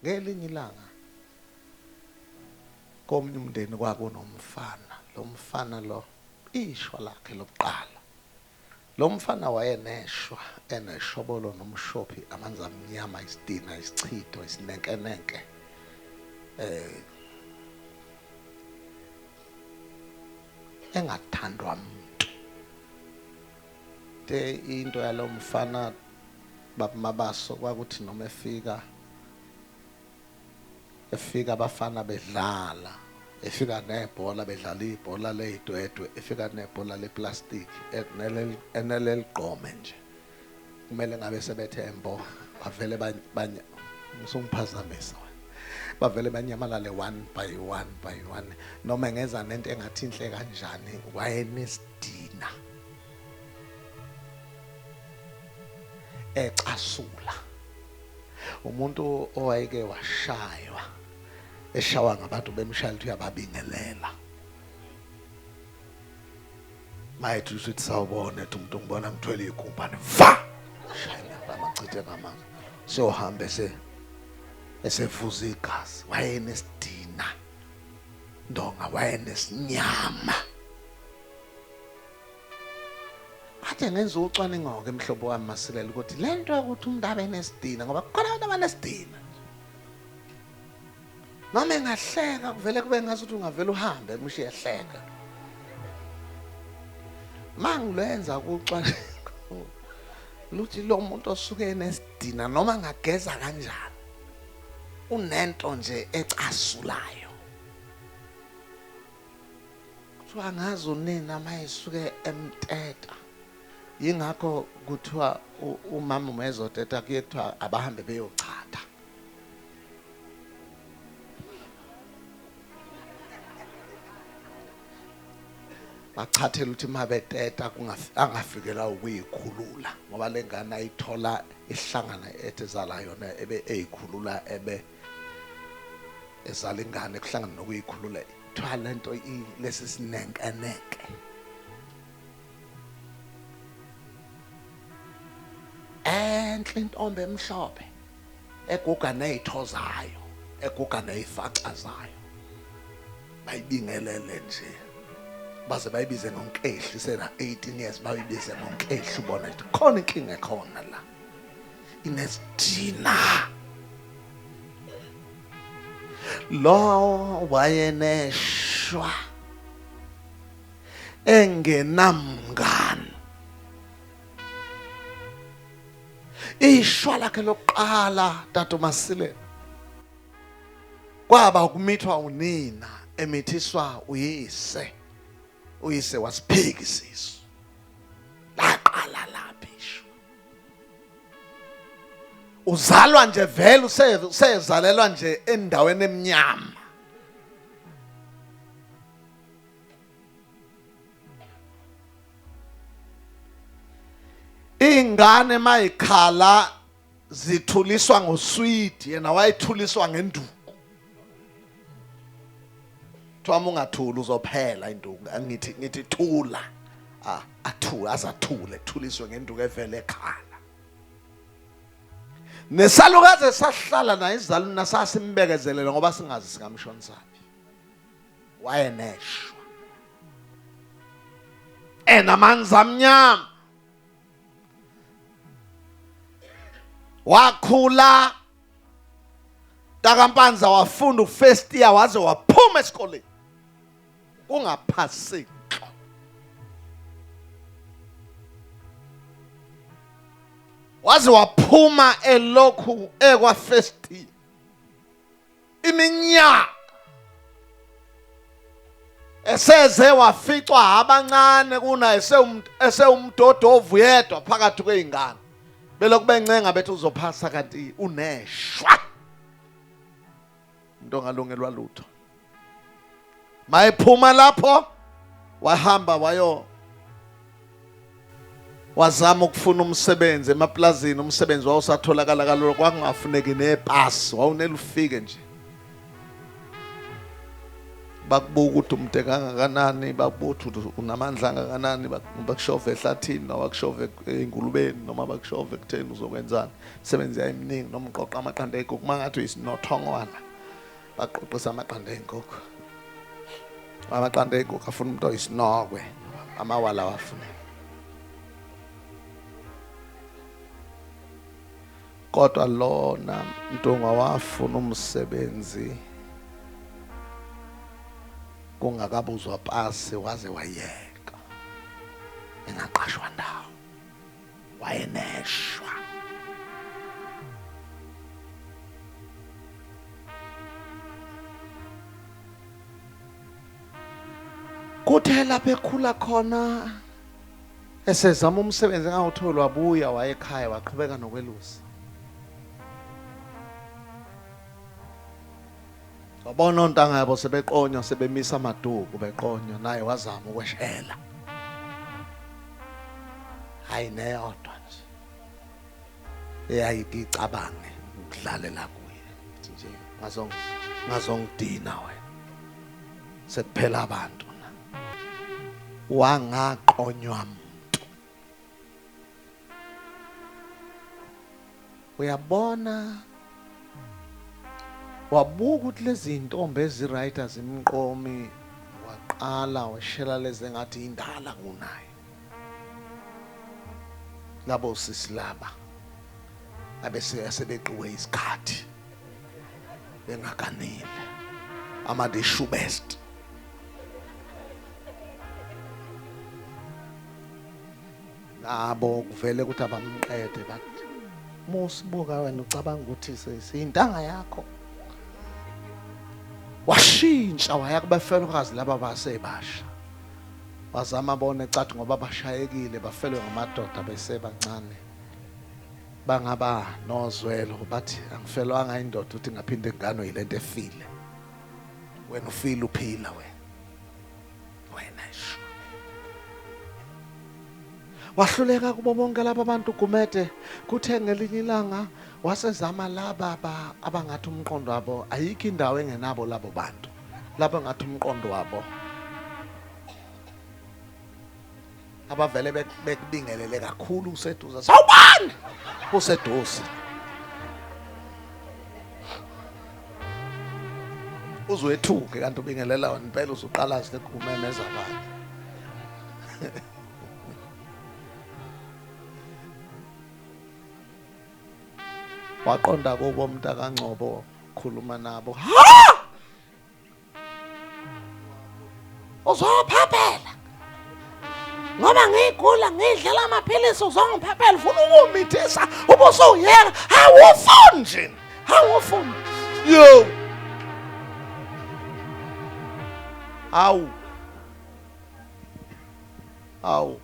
Ngelinye ilanga komunye umndeni kwakunomfana lo mfana lo ishwa lakhe lokuqala lo mfana wayeneshwa eneshobolo nomshophi amanzi amnyama isidina isichitho isinenkenenke eh engathandwa muntu Te into yalomfana bab Mabaso kwakuthi noma efika efika abafana bedlala efika nebhola bedlala ibhola leyidwedwe efika nebhola leplastic eneleligqome nje kumele ngabe sebethe mbo bavele banye ngisungiphazamisa bavele banyamalale one by one by one noma ngeza nento engathi inhle kanjani wayenesidina ecasula umuntu owayeke washaywa eshawa ngabantu bemshayela ukuthi uyababingelela mayethi usuthi sawubona ethi umuntu ngibona ngithwele igumbane va shayela amachithe ngamanzi siyohambe se esevuza igazi wayenesidina ndonga wayenesinyama Athe ngenza ucwaningo-ke mhlobo wami masilela ukuthi le nto yokuthi umuntu abe nesidina ngoba kukhona abantu abanesidina noma engahleka kuvele kube ngathi ukuthi ungavele uhambe mushe ehleka mangilwenza kucwaningo luthi lo muntu osuke enesidina noma ngageza kanjani unento nje ecasulayo Kuthiwa ngazi unina uma esuke emteta yingakho kuthiwa umama uma ezoteta kuye kuthiwa abahambe beyochatha bachathela ukuthi uma beteta angafikelwa ukuyikhulula ngoba le ngane ayithola ihlangana etezala yona ebe eyikhulula ebe ezala ingane kuhlangana nokuyikhulula kuthiwa le nto lesi sinenkeneke enhle intombi emhlophe eguga nezitho zayo eguga nezifaxa zayo bayibingelele nje baze bayibize ngonkehli sena 18 years bayibize ngonkehli ubona ukuthi khona inkinga ekhona la inesidina lo wayeneshwa engenamngani ishwa lakhe lokuqala tata uMasilela kwaba ukumithwa unina emithiswa uyise uyise wasiphiki isisu laqala laphi ishwa uzalwa nje vele usezalelwa nje endaweni emnyama ingane mayikhala zithuliswa ngoswidi yena wayithuliswa ngenduku kuthiwa uma ungathuli uzophela induku ngithi ngithi thula ah, athule azathule kuthuliswe ngenduku evele ekhala nesalukazi esahlala naye izaluna sasimbekezelela ngoba singazi singamshonisaphi wayeneshwa enamanzi amnyama wakhula Takampanza wafunda ufirst year waze waphuma esikoleni kungaphaseki waze waphuma elokhu ekwa first year iminyaka eseze waficwa abancane kuna esewumdodovu yedwa phakathi kwey'ngane belokhu bencenga bethi uzophasa kanti uneshwa umuntu ongalungelwa lutho mayephuma lapho wahamba wayo wazama ukufuna umsebenzi emaplazini umsebenzi wawusatholakala kalula kwakungafuneki nepasi wawunele ufike nje bakubuka ukuthi umde kangakanani bakubuthi ukuthi unamandla angakanani bakushove ehlathini noma bakushove engulubeni noma bakushove ekutheni uzokwenzani imisebenzi yayiminingi noma uqoqa amaqanda egoku uma ngathi uyisinothongwana baqoqisa amaqanda ezinkukhu amaqanda ezinkukhu afuna umuntu oyisinokwe amawala wafuna kodwa lona mntungwa wafuna umsebenzi kungakabuzwa pasi waze wayeka engaqashwa ndawo wayeneshwa. Kuthe lapho ekhula khona esezama umsebenzi engawutholi wabuya wayekhaya waqhubeka nokwelusa. Wabona ontanga yabo sebeqonywa sebemisa amaduku beqonywa naye wazama ukweshela. Hayi neyodwa nje. Eyayidi icabange ukudlalela kuye. Nje ngazong ngazongidina wena. Sekuphela abantu. Wangaqonywa uyabona wabuka ukuthi lezi ntombi eziright azimqomi waqala washela lezi engathi indala kunaye labo sisi laba abese asebeqiwe isikhathi bengakanile ama the shoe best nabo kuvele ukuthi abamqede but musibuka wena ucabanga ukuthi siyintanga yakho washintsha waya kubafelokazi laba basebasha wazama bona ecathi ngoba bashayekile bafelwe ngamadoda besebancane bangaba nozwelo bathi angifelwanga indoda uthi ngaphinde ngano yilento efile wena ufile uphila wena wena sho wahluleka kubo bonke laba bantu gumede kuthe ngelinye ilanga wasezama laba abangathi umqondo wabo ayikho indawo engenabo labo bantu laba ngathi umqondo wabo abavele bek- bekubingelele kakhulu useduze sawubani useduze uzwethuke kanti ubingelela wena impela usuqala zile kumemeza abantu waqonda kubo mntakangcobo khuluma nabo ha uzophaphela ngoba ngiyigula ngidlela amaphilisi uzongiphaphela ufuna ukumithisa ubusuyeka awufuni nje awufuni yo awu awu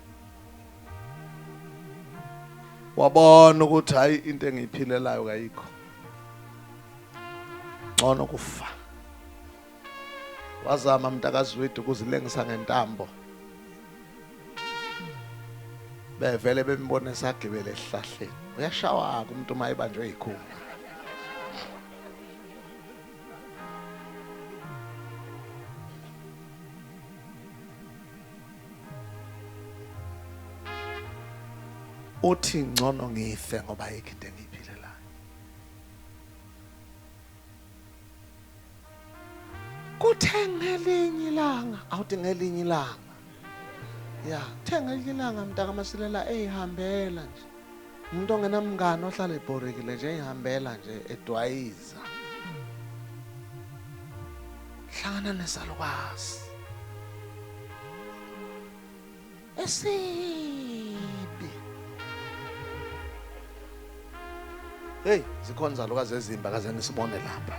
wabona ukuthi hayi into engiyiphilelayo kayikho ngcono kufa wazama mntakazwidi ukuzilengisa ngentambo bevele bembone sagibele esihlahleni uyashawa-ke umuntu uma ebanjwe yikhulu uthi ngcono ngife ngoba ayikho into engiyiphilelayo kuthe ngelinye ilanga awuthi ngelinye ilanga ya kuthe ngelinye ilanga mntaka masilela eyihambela nje Umuntu ongenamngani ohlala ebhorekile nje ihambela nje edwayiza. Hlangana nesalukwazi. Esibi. Hey, zikhona zalukazi ezimba kaze nisibone lapha.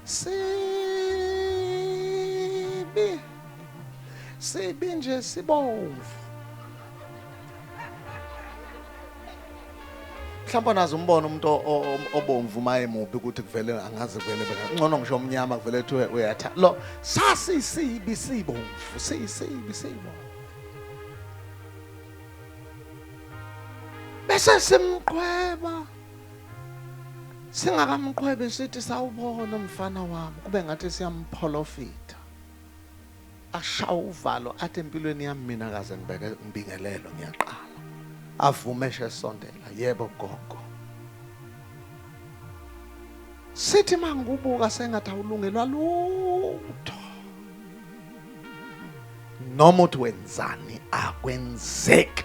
sibi sibi nje sibomvu mhlawumbe nazi umbona umuntu obomvu maye mubi ukuthi kuvele angazi kuvele ngcono ngisho omnyama kuvele kuthiwe uyatha lo sasi sibi sibomvu sisibi sibomvu bese simqhweba singakamqhwebi sithi sawubona umfana wami kube ngathi siyampholofitha ashawa uvalo athi empilweni yami mina kaze ngibeke ngibingelelo ngiyaqala avume shesondela yebo gogo sithi mangibuka sengathi awulungelwa lutho noma uthi wenzani akwenzeki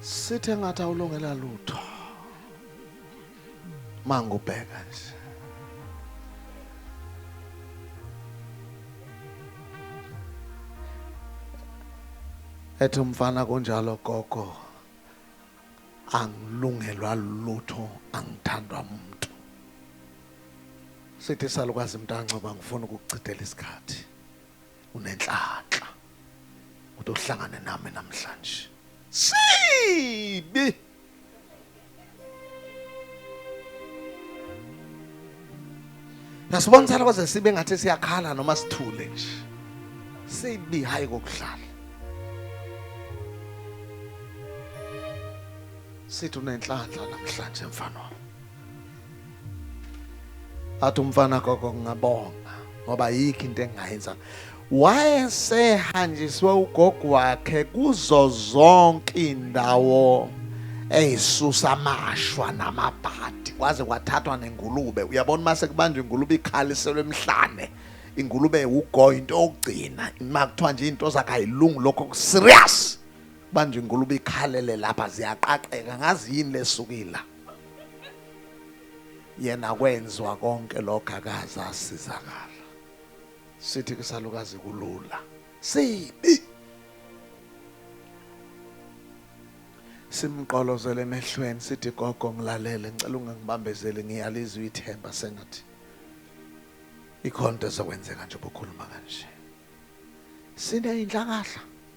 sithe ngathi awulungela lutho mangubheka nje ethi umfana kunjalo gogo angilungelwa lutho angithandwa umuntu sithi salukazi mntancoba ngifuna ukuchithela isikhathi unenhlanhla ukuthi uhlangane nami namhlanje sibi Nasibona sala kwaze sibe ngathi siyakhala noma sithule nje sibi hayi kokudlala sithi unenhlanhla namhlanje mfana wami athi umfana gogo ngingabonga ngoba yikho into engingayenza wayesehanjiswe ugogo wakhe kuzo zonke indawo eyisusa amashwa namabhadi kwaze kwathathwa nengulube uyabona uma sekubanjwa ingulube ikhaliselwe emhlane ingulube ugo into yokugcina uma kuthiwa nje into zakayilungu lokho serious banjwa ingulube ikhalele lapha ziyaqaqeka ngazi yini lesukile yena kwenzwa konke lokho akaze asizakala sithi kusalukazi kulula sibi simqolozele emehlweni sithi gogo ngilalele ngicela ungangibambezeli ngiyalizwa ithemba sengathi ikhonto ezokwenzeka nje bokhuluma kanje sine inhlakahla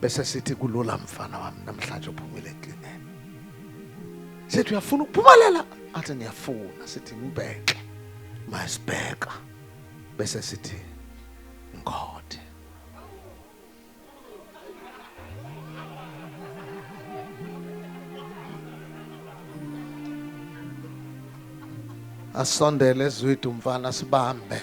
bese sithi kulula mfana wami namhlanje uphumile eklineni sithi uyafuna ukuphumelela athi ngiyafuna sithi ngibheke masibheka bese sithi ngikhothe asondele ezwidi umfana sibambe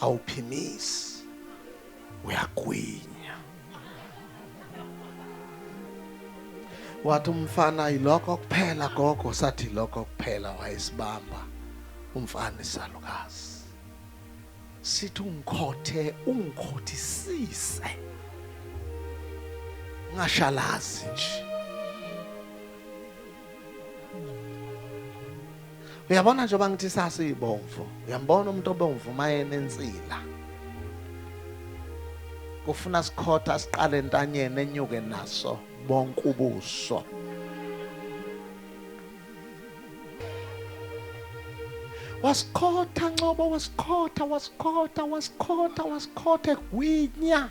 awuphimisi uyagwinya wathi umfana yilokho kuphela gogo sathi lokho kuphela wayesibamba umfana isalukazi sithi ungikhothe ungikhothisise ngashalazi nje uyabona njengoba ngithi sasiyibomvu uyambona umuntu obomvu uma enensila kufuna sikhotha siqale entanyeni enyuke naso bonke ubuso wasikhotha ncobo wasikhotha wasikhotha wasikhotha wasikhotha egwinya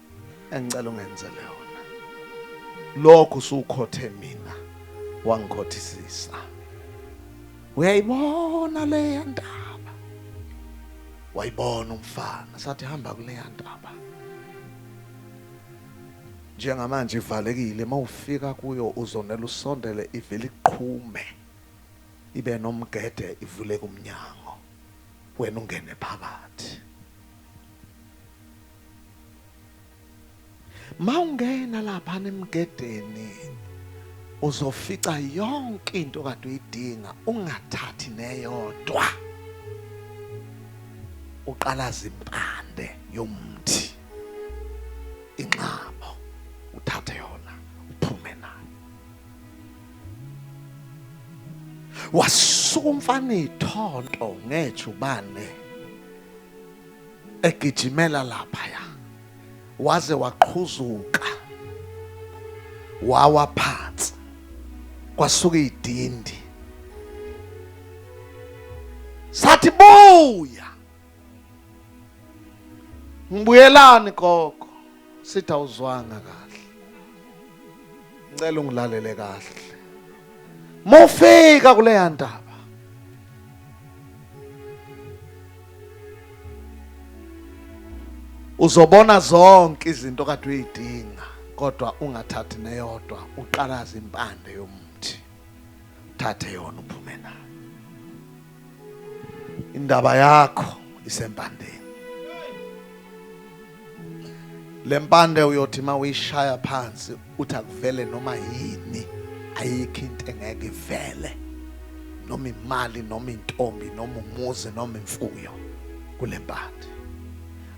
engicela ungenzele yona lokho usukhothe mina wangikhothisisa uyayibona leya ndaba wayibona umfana sathi hamba kuleya ndaba njengamanje ivalekile mawufika kuyo uzonela usondele ivele iqhume ibe nomgede ivuleke umnyango wena ungene phakathi Mawungena lapha nemgedeni uzofica yonke into kade uyidinga ungathathi neyodwa. Uqalaza impande yomthi inxabo uthathe yona uphume nayo. Wasuka umfana ithonto ngejubane egijimela laphaya waze waqhuzuka wawa phansi kwasuka idindi sathi buya ngibuyelani gogo sithi awuzwanga kahle ngicela ungilalele kahle mufika kuleya ndaba uzobona zonke izinto kade uyidinga kodwa ungathathi neyodwa uqalaza impande yomuthi thathe yona uphume nayo indaba yakho isempandeni lempande uyothi uma uyishaya phansi uthi akuvele noma yini ayikho into engeke ivele noma imali noma intombi noma umuzi noma imfuyo kulempande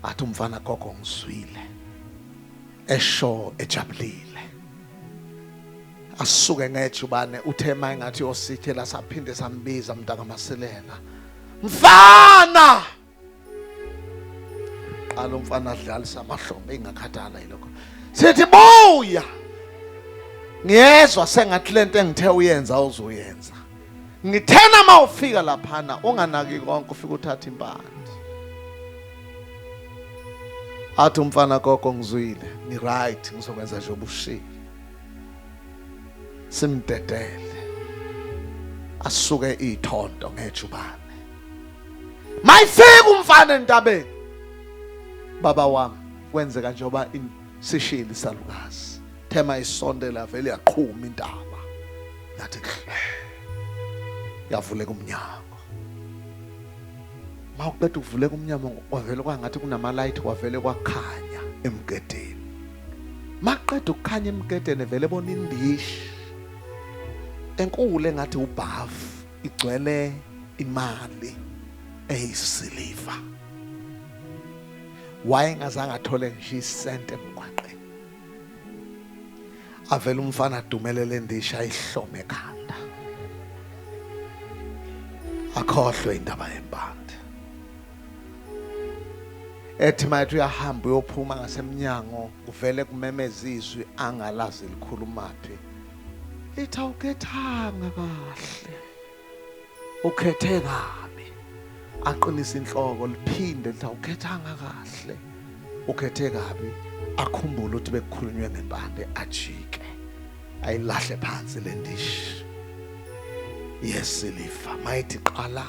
athi umfana gogo ngizwile esho ejabulile asuke ngejubane uthe maye ngathi osithela saphinde sambiza mntaka masilela mfana qala umfana adlalisa amahlombe ingakhathala yilokho sithi buya ngiyezwa sengathi lento engithe uyenza uzoyenza ngithena uma ufika laphana unganaki konke ufika uthatha impande athi umfana gogo ngizwile ngiright ngizokwenza nje obushilo simdedele asuke ithonto ngejubane mayifika umfana entabeni baba wami kwenzeka njengoba sishile isalukazi thema isonde lavele yaqhuma intaba yathi hle yavuleka umnyango mawuqeda ukuvuleka umnyango wavele kwangathi kunamalayithi wavele kwakhanya emgedeni maqeda ukukhanya emgedeni vele bona indishi enkulu engathi ubhavu igcwele imali eyisiliva wayengazange athole ngisho isente emgwaqeni avele umfana adumelele indishi ayihlome ekhanda akhohlwe indaba yempande ethi mayethi uyahamba uyophuma ngasemnyango kuvele kumemeza izwi angalazi likhulumaphi lithi awukhethanga kahle ukhethe kabi aqinisa inhloko liphinde lithi awukhethanga kahle ukhethe kabi akhumbule ukuthi bekukhulunywe ngempande ajike ayilahle phansi le ndishi yesilifa mayithi qala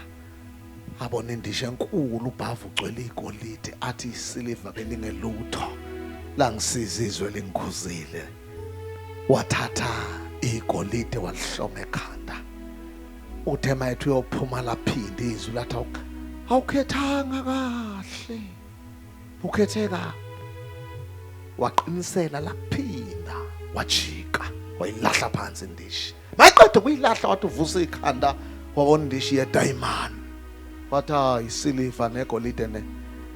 abona indishi enkulu ubhavu ugcwele igolide athi isiliva belingelutho langisiza izwe lingikhuzile wathatha igolide walihloma ekhanda uthe mayethi uyophuma laphinde izwi lathi awukhethanga kahle ukhethe kabi waqinisela laphinda wajika wayilahla phansi indishi mayiqeda ukuyilahla wathi uvusa ikhanda kwakondishi yedayimani wathi hayi isiliva negolide ne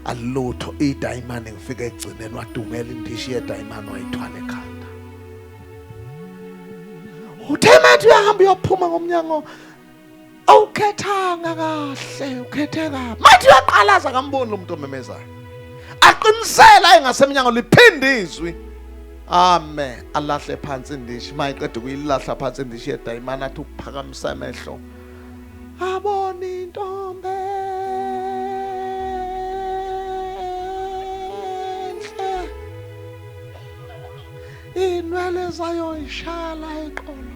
alutho idayimani ngifike egcineni wadumela indishi yedayimani wayithwala ekhanda uthe mathi uyahamba uyophuma ngomnyango awukhethanga kahle ukhethe kabi manje uyaqalaza kamboni lo muntu omemezayo aqinisela engasemnyango liphinde izwi amen alahle phansi indishi mayiqeda ukuyilahla phansi indishi yedayimana athi uphakamisa amehlo abona intombe inwele zayo ishaya la eqolo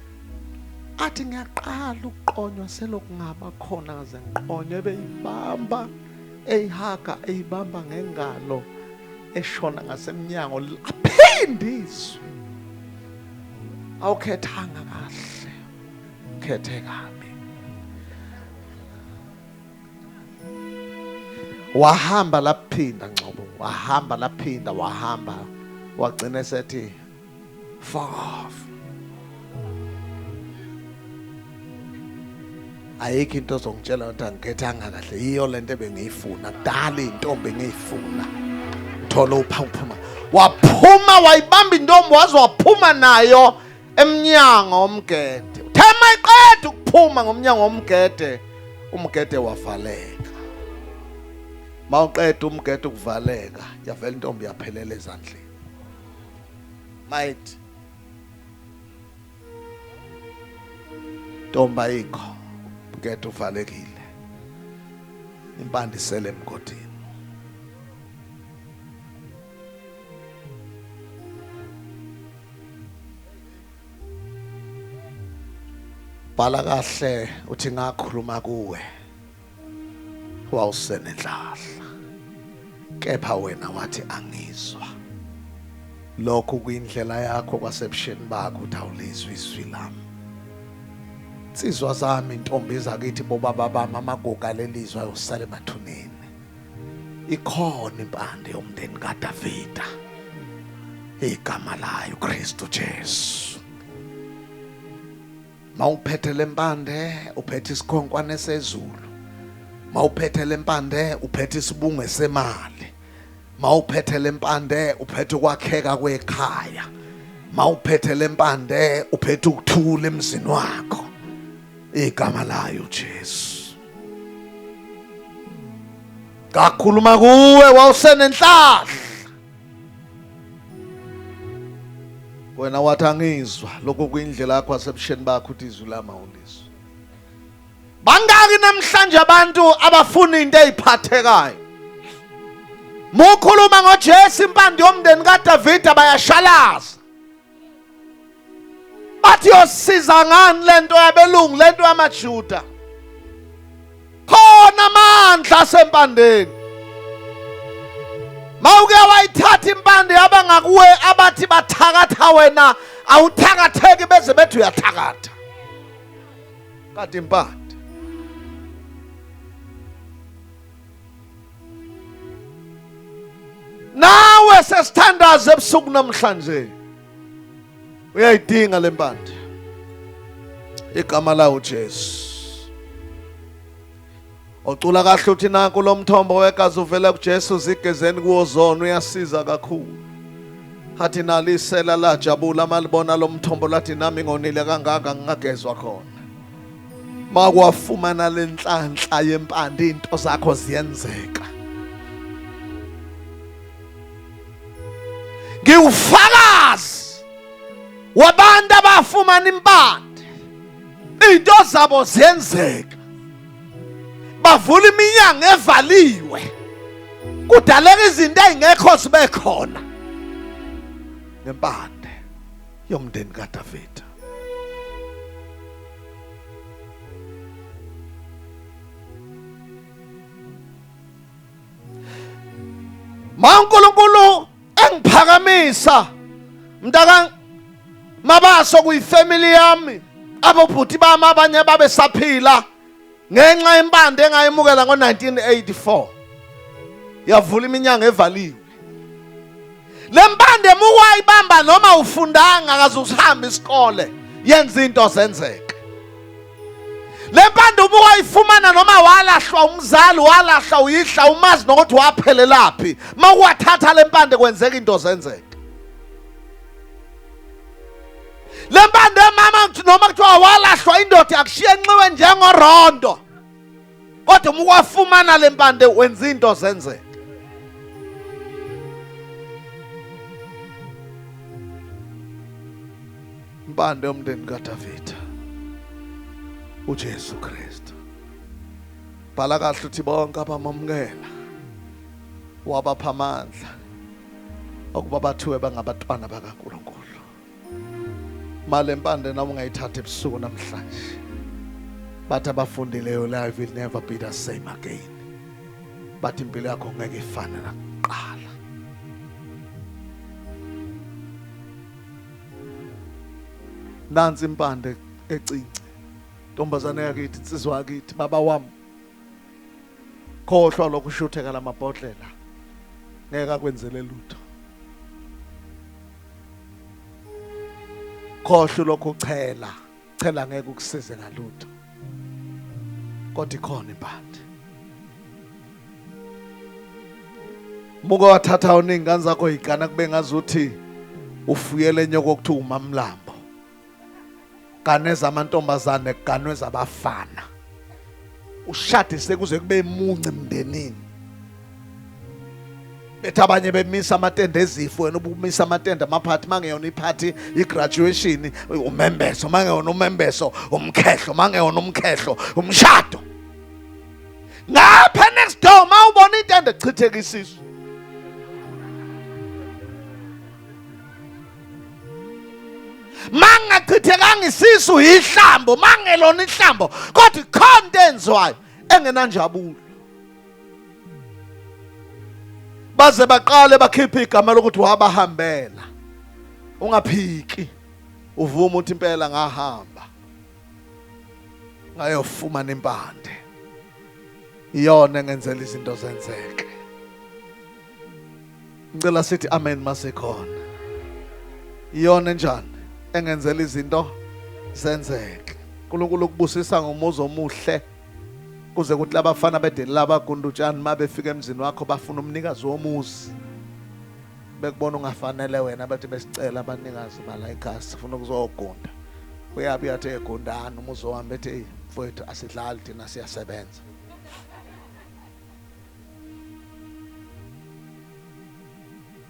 athi ngiyaqala ukuqonywa selokungaba khona ngaze ngiqonywe beyibamba eyihaga eyibamba ngengalo eshona ngasemnyango aphinde izwi awukhethanga kahle ukhethe kabi wahamba laphinda ngcobo wahamba laphinda wahamba wagcina esethi Fuck off. ayikho into ozongitshela ukuthi angikethanga kahle yiyo le nto ebengiyifuna kudala iy'ntombi engiyifuna thola uphaphuma waphuma wayibamba intombi waze waphuma nayo emnyango omgede uthe mayiqeda ukuphuma ngomnyango omgede umgede wavaleka mawuqeda umgede ukuvaleka yavela intombi yaphelela ezandleni Might. Tomba ikho. Get uvalekile. Impande isele emgodini. Bhala kahle uthi ngakhuluma kuwe. wawusenenhlahla kepha wena wathi angizwa lokho kuyindlela yakho kwasebusheni bakho ukuthi awulizwe izwi lami nsizwa zami intombi zakithi bobaba bami amaguga lelizwe ayosala emathuneni ikhona impande yomndeni kaDavida igama layo Kristu Jesu mawuphethe lempande uphethe isikhonkwane sezulu mawuphethe lempande uphethe isibunge semali mawuphethe lempande uphethe ukwakheka kwekhaya mawuphethe lempande uphethe ukuthula emzini wakho igama layo Jesu kakhuluma kuwe wawusenenhlahla wena wathi angizwa lokho kuyindlela yakho asebusheni bakho uthi izwi lami awulizwa bangaki namhlanje abantu abafuna into eziphathekayo mukhuluma ngoJesu impande yomndeni kaDavide bayashalaza bathi yosiza ngani lento yabelungu lento yamajuda khona amandla asempandeni mawuke wayithatha impande yaba ngakuwe abathi bathakatha wena awuthakatheki beze bethi uyathakatha kade impande nawe sesithandaza ebusuku namhlanje uyayidinga le mpande igama lawo Jesu ocula kahle uthi nanku lo mthombo wegazi uvela kuJesu zigezeni kuwo zona uyasiza kakhulu athi nalisela lajabula malibona lo mthombo lathi nami ngonile kangaka ngingagezwa khona makwafumana lenhlanhla yempande into zakho ziyenzeka ngiwufakazi wabantu abafumana impande into zabo ziyenzeka bavula iminyango evaliwe kudaleka izinto ezingekho zibe khona ngempande yomndeni kaDavida. MaNkulunkulu engiphakamisa mntaka mabaso kuyifamily yami abobhuti bami abanye babesaphila ngenxa yempande engayemukela ngo-1984 yavula iminyango evaliwe le mpande muwayibamba noma ufundanga akaze usihamba isikole yenza into zenzeke le mpande uma wayifumana noma walahlwa umzali walahla uyihla umazi nokuthi waphelelaphi uma uwathatha le mpande kwenzeka into zenzeke le mpande mama noma kuthiwa walahlwa indoda yakushiya enxiwe njengorondo kodwa uma ukwafumana le mpande wenza into zenzeka impande yomndeni kadavida ujesu kristu bhala kahle uthi bonke abamamukela wabapha amandla ukuba bathiwe bangabatwana bakaNkulunkulu malempande noma ungayithatha ebusuku namhlanje bathi abafundileyo life will never be the same again bathi impilo yakho ngeke ifane nakuqala nansi impande ecinci ntombazane yakithi insizwa yakithi baba wami khohlwa lokhu shutheka lamabhodlela ngeke akwenzele lutho khohlwa lokhu uchela chela ngeke ukusize ngalutho kodwa ikhona impande muke wathatha uningi ngane zakho yigana kube ngazuthi ufuyele nyoko okuthiwa umamlambo gane zamantombazane ganwe zabafana ushade sekuze kube munci mndenini bethi abanye bemisa amatende ezifo wena ubumisa amatende amaphathi mangeyona iphathi igraduation umembeso mangeyona umembeso umkhehlo mangeyona umkhehlo umshado ngapha next door mawubona itende chitheka isisu mangachithekanga isisu yihlambo mangelona ihlambo kodwa ikhona into enziwayo engenanjabulo baze baqale bakhiphe igama lokuthi wabahambela ungaphiki uvuma ukuthi impela ngahamba ngayofumana impande iyona engenzela izinto zenzeke ngicela sithi amen masekhona iyona enjani engenzela izinto zenzeke uNkulunkulu ukubusisa ngomuzi omuhle kuze kuthi labafana bedeli laba gundutshani uma befika emzini wakho bafuna umnikazi womuzi bekubona ungafanele wena bathi besicela abanikazi bala ekhasi sifuna ukuzogunda uyabi yathi egundana umuzi wami bethi mfowethu asidlali thina siyasebenza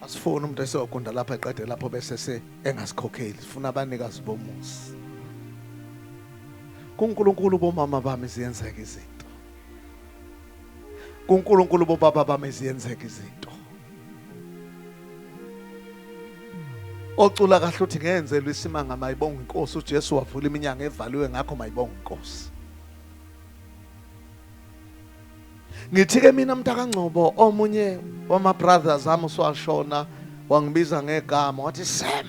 asifuni umuntu esiyogunda lapha eqede lapho bese se engasikhokheli sifuna abanikazi bomuzi kuNkulunkulu bomama bami ziyenzeka izinto kuNkulunkulu bobaba bami ziyenzeka izinto ocula kahle uthi ngenzelwe isimanga mayibonga inkosi uJesu wavula iminyango evaliwe ngakho mayibonga inkosi ngithi ke mina mntakangcobo omunye wama-brothers ami uswashona wangibiza ngegama wathi sam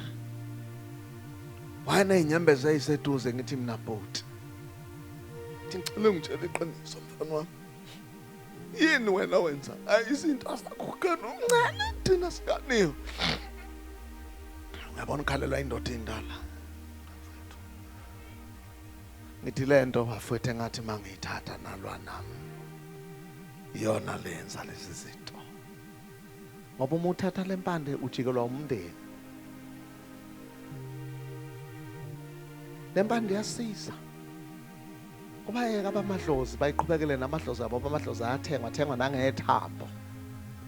wayeney'nyembezi eyiseduze ngithi mina bhuti ngithi ngicela ngitshela iqiniso mfana wami yini wena wenza izinto asakhukana umncane thina sikaniyo uyabona ukhalelwa indoda indala ngithi lento bafwethu engathi mangiyithatha nalwa nami iyona lenza lezi zinto ngoba uma uthatha lempande ujikelwa umndeni lempande iyasiza kubayeka abamadlozi bayiqhubekele namadlozi abo abamadlozi ayathengwa athengwa nangethambo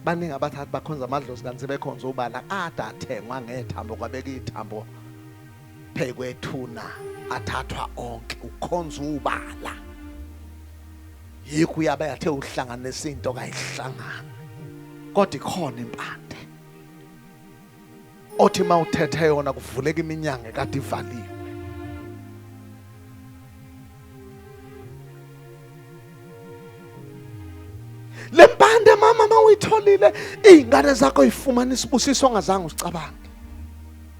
baningi abathathi bakhonza amadlozi kanti sebekhonza ubala ade athengwa ngethambo kwabeka ithambo Phekwethuna athathwa onke ukhonza ubala. Yikho uyabe athe uhlanganisa into kayihlangana. Kodwa ikhona impande. Othi mawuthethe yona kuvuleka iminyango kade ivaliwe. lempande mama mawuyitholile izingane zakho izifumana isibusiso ongazange usicabange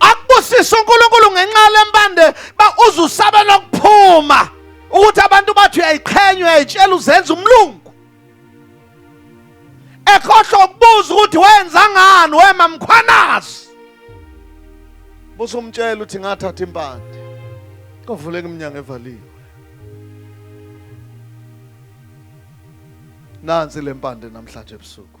akubusise uNkulunkulu ngenxa lempande ba uzusabela ukuphuma ukuthi abantu bathi uyayiqhenya uyayitshela uzenza umlungu ekhohlwa ukubuza ukuthi wenza ngani wema mkhwanazi buza umtshela ukuthi ngathatha impande kovuleka iminyango evaliwe nansi lempande namhlanje ebusuku